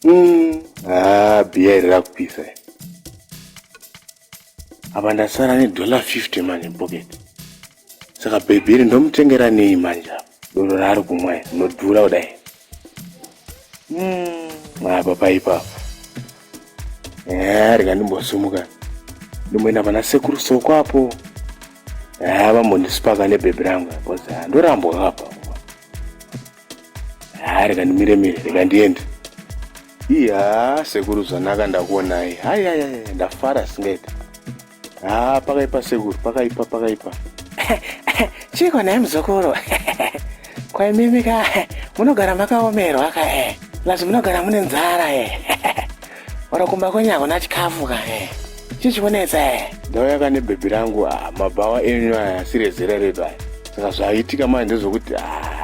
Mm, ah, biya iri rakupisa iri. Apa ndasara nedollar 50 manje mupocket. Saka baby iri ndomutengera nei manje apa? Doro raari kumwa iri rinodhura kudai. Mm, apa paipa apa. Eh, rega ndimbosumuka. Ndimboenda pana sekuru soko apo. Eh, vambondisipaka nebhebhi rangu apa. Ndorambwa apa. haa reka ndimire mire reka ndiende iya sekuru zvanaka ndakuonai hai hai hai ndafara singaiti haa pakaipa sekuru pakaipa pakaipa chiiko naye muzukuru kwaimimika munogara makaomerwa kae plus munogara mune nzara e Ora kumba kwenyu hakuna chikafu ka eh. Chichikunetsa eh. Ndauya ka nebhebhi rangu ah, mabhawa enyu aya asiri ezera redu aya. Saka zvaitika manje ndezvokuti ah,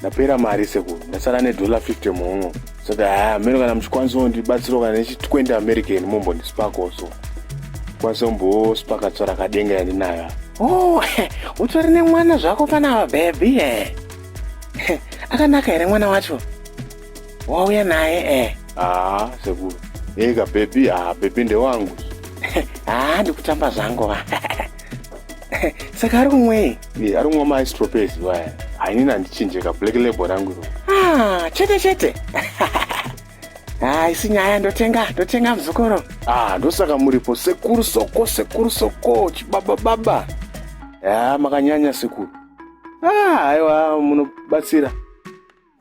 ndapera mari sekuru ndasara nedollar 50 muhungu saka haa ah, meno kana muchikwanisa kundibatsirawo kana nechitwende american mombondisipakawo so kwanisa kumbosipaka tsvara kadenga yandinayo oh utori nemwana zvako panava bhebhi eh. akanaka here mwana wacho wauya naye eh haa sekuru eka bebi haa bebi ndewangu haa ndikutamba zvangu va saka ari kumwei e, ari kumwa maistropesi vaya hainini handichinjeka black label rangu iro ah, chete chete haisi ah, nyaya ndotenga ndotenga muzukuru ah ndosaka muripo sekuru soko sekuru soko chibaba baba ya ah, makanyanya sekuru ah aiwa munobatsira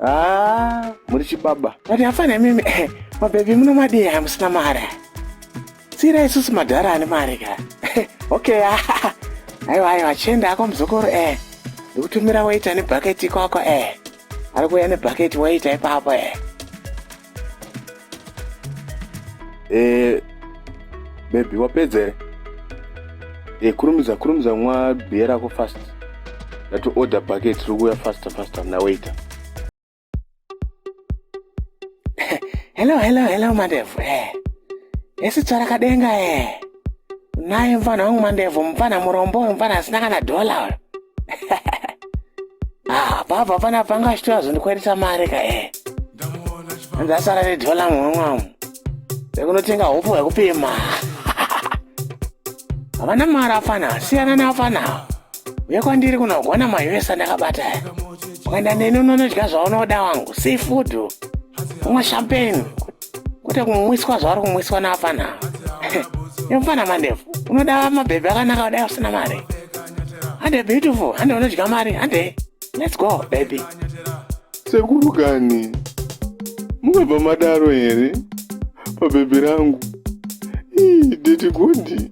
Ah, muri chibaba. Mati hapana mimi. Eh, mabebi muno madii hamusina mari. Sira isusu madhara ane mari ka. Eh, okay. Ah, aiwa aiwa chenda ako muzukuru eh. Ndikutumira waita ne bucket ikoko eh. Ari kuya ne bucket waita ipapo eh. Eh, baby wapedza here eh, kurumidza kurumidza mwa bhiya rako fast ndati order packet tiri kuuya faster faster mna waiter hello hello hello mandevu eh. esi tsvara kadenga eh. naye mfana wangu mandevu mfana murombo mfana asina kana dhola uyo ah, baba pana panga chitora zvondikwanisa mari ka e eh. ndasara nedhola mumwemwamu vekunotenga hopo hwekupima havana mari afana siyana naafana uye kwandiri kunogona maus andakabata ukaenda neni unonodya zvaunoda wangu seafood umwe champagne kwete kumwiswa zvaari kumwiswa naafana nemfana mandevu unoda mabhebhi akanaka kudai usina mari hande beautiful hande unodya mari hande let's go baby sekuru kani mukabva madaro here pabhebhi rangu ii deti gondi